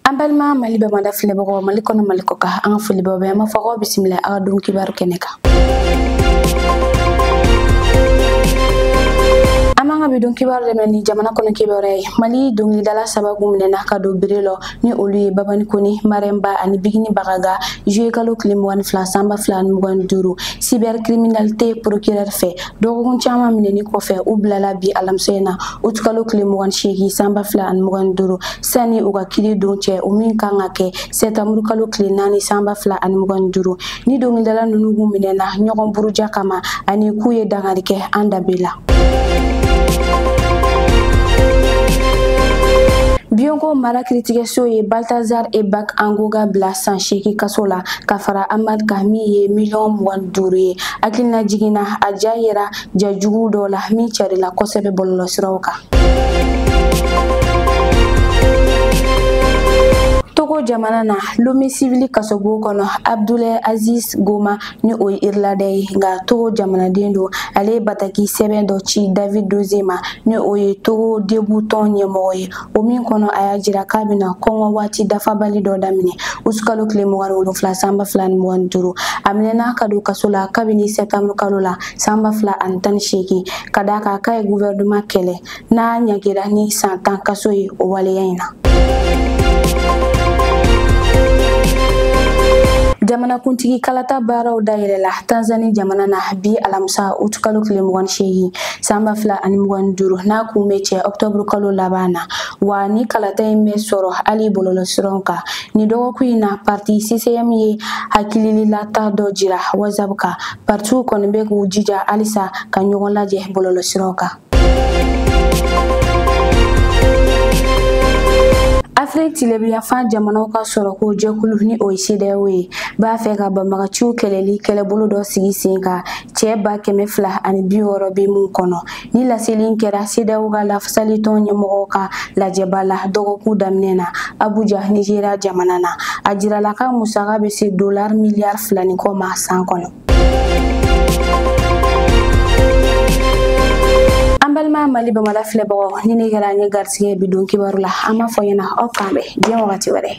an balima mali bamada filɛbagaw mali kɔnɔ mali kɔkan an filɛbagaw bɛɛ an b'a fɔ aw bisimila aw ka don kibaru kɛnɛ kan an b'an ka bi don kibaru daminɛ ni jamana kɔnɔ kibaru ye mali dɔngilidala saba min minɛna ka don bere lɔ ni olu ye babani kɔnɛ mariam ba ani bigini bagaga juye kalo kile mugan ni fila sanba fila ni mugan ni duuru cybercriminalité procureur fɛ dɔgɔkun caman minɛni kɔfɛ u bilala bi alamisa in na uti kalo tile mugan seegin sanba fila ani mugan duuru sani u ka kiri don cɛ o min kan ka kɛ sɛtanburu kalo tile naani sanba fila ani mugan duuru ni dɔnkilidala ninnu tun minɛna ɲɔgɔn buruja kama ani k'u ye dankari kɛ an danbe la biyoko mara kiritigɛso ye baltazar ebang engonga bila san seegin kaso la ka fara amande kan min ye miliyɔn mugan duuru ye hakililajigin na a ja yera ja juguw dɔ la min carila kosɛbɛ bɔlɔlɔsiraw kan togo jamana na lome sivili kasobo kɔnɔ abdulɛ aziz goma ni o ye irilandɛ ye nka togo jamanaden don ale ye bataki sɛbɛn dɔ ci david dosseh ma ni o ye togo debu tɔn ɲɛmɔgɔ ye o min kɔnɔ a y'a jira k'a bɛna kɔngɔ waati dafabali dɔ daminɛ utukalo tile mugan ni wolonfila sanba fila ni mugan ni duuru a minɛna ka don kaso la kabini sɛtanburu kalo la sanba fila ani tan ni seegin ka d'a kan k'a ye guvɛrɛnema kɛlɛ n'a ɲangira ni san tan kaso ye o waleya in na jamanakuntigi kalata baaraw dayɛlɛla tanzani jamana na bi alamisa utukalo tile mugan seegin sanba fila ani mugan ni duuru n'a kun bɛ cɛ ɔktɔburu kalo laban na wa ni kalata in bɛ sɔrɔ hali bɔlɔlɔsiraw kan ni dɔgɔkun in na parti ccm ye hakilililata dɔ jira whatsapp kan partiw kɔni bɛ k'u jija halisa ka ɲɔgɔn lajɛ bɔlɔlɔsiraw kan afiriki tilebinyanfan jamanaw ka sɔrɔko jɛkulu ni o ye sedeyawo ye b'a fɛ ka banbagaciw kɛlɛli kɛlɛbolo dɔ sigi sen kan cɛ ba kɛmɛ fila ani bi wɔɔrɔ bɛ min kɔnɔ ni laseli in kɛra sedeyawo ka lafasalitɔn ɲɛmɔgɔw ka lajɛba la dɔgɔkun daminɛ na abuja nizeriya jamana na a jirala k'a musaka bɛ se dolar miliyar fila ni kɔ ma san kɔnɔ an balima mali bamada filɛbagaw nin de kɛra an ye garisigɛ bi don kibaru la an b'a fɔ ɲɛna aw k'an bɛn diɲɛ wagati wɛrɛ